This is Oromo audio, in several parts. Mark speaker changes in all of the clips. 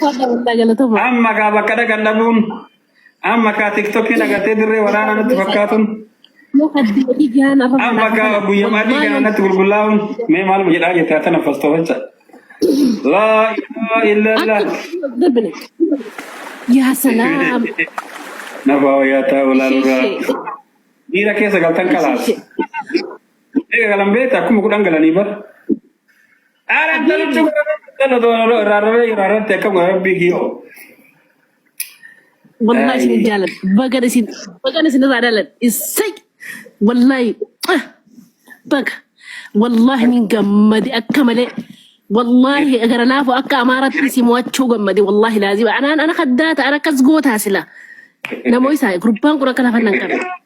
Speaker 1: Fadha waldaa galatoomaa. Amma gaa bakka dhaqan dhabuun amma kaa tiktokiin agartee dirree waraanaa natti fakkaatuun Yoo addi adii gahaan arra amma fagaata gaa kana. guyyama adii Wallahi gaa natti gulgullaa'uun mee maal jedhaa jettaa tana fastoofacha. Laa ilaaha illallah. akka darbine.
Speaker 2: Yaa salaam.
Speaker 1: Nafaa wayyaa ta'uu Ishee laalurraa. ishee. Miira keessa galtan Ishee kalaas. ishee. Eega galan beekta akkuma kudhan galanii bar. Ara Abdii antara cuba rara kana do rara rara rara teka gua rabbi kio.
Speaker 2: wallahi isin Ay. jaaladha. Bagan isin bagan isin irraa dhaladha. Issay wallahi ah, baga wallahi nin gammade akka malee wallahi gara laafu akka amaaratti si mo'achuu gammade wallahi laazima anaan ana kaddaata ana akkas gootaa sila namoo isaa gurbaan kun akka lafa nan qabe.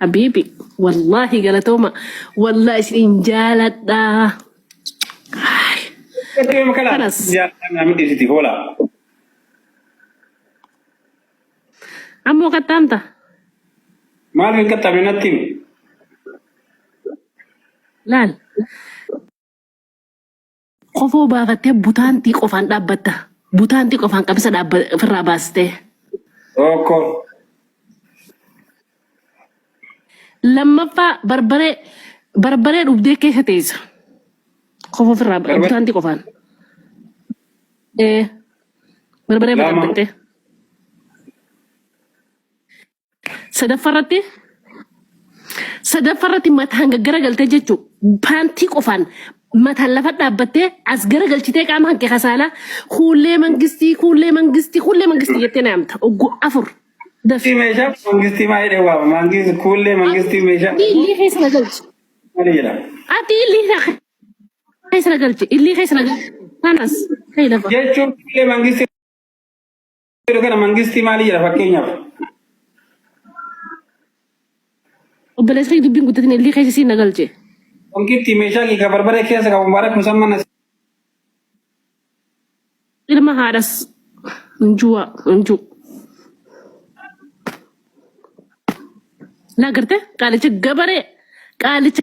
Speaker 2: habiibi wallaahi galatooma wallaahi isin jaaladha Eeyyee
Speaker 1: makala. kanas Yaa naa miti siti hoola.
Speaker 2: ammoo qaxxaamta
Speaker 1: Maal hin qaxxabe natti himi.
Speaker 2: laal Kofoo baafattee butaantii qofaan dhaabbatta. Butaantii qofaan qabisa dhaabba ofirraa baastee. Tokko. Lammaffaa barbaree barbaree dhugdee keessa teessa. Kofoo ofirraa Barbaree. butaantii qofaan. Ee barbaree Lama. dhaabbattee. Sadaffaa irratti sadaffaa irratti mataan gaggara galtee jechuun paantii qofaan mataan lafa dhaabbattee as gara galchitee qaama hanqe kasaalaa kuullee mangistii kuullee mangistii kuullee mangistii jettee naamta ogguu afur dafi. Mangistii meeshaa
Speaker 1: mangistii maa jedhee waama mangistii kuullee mangistii meeshaa Ati illee
Speaker 2: keessa
Speaker 1: na galchi. malee jedha.
Speaker 2: Ati illee na keessa na galchi. Illee keessa na galchi. Kanas ta'e lafa. Jechuun kuullee
Speaker 1: mangistii Yeroo kana mangistii maalii jedha fakkeenyaaf?
Speaker 2: Obboleessa kee dubbiin guddatin illee keessa siin na galche. Wankitti
Speaker 1: meeshaa giga barbaree keessa qabu mubaarak musamman as.
Speaker 2: Ilma haadhas injuwa inju. Naa garte qaalicha gabaree qaalicha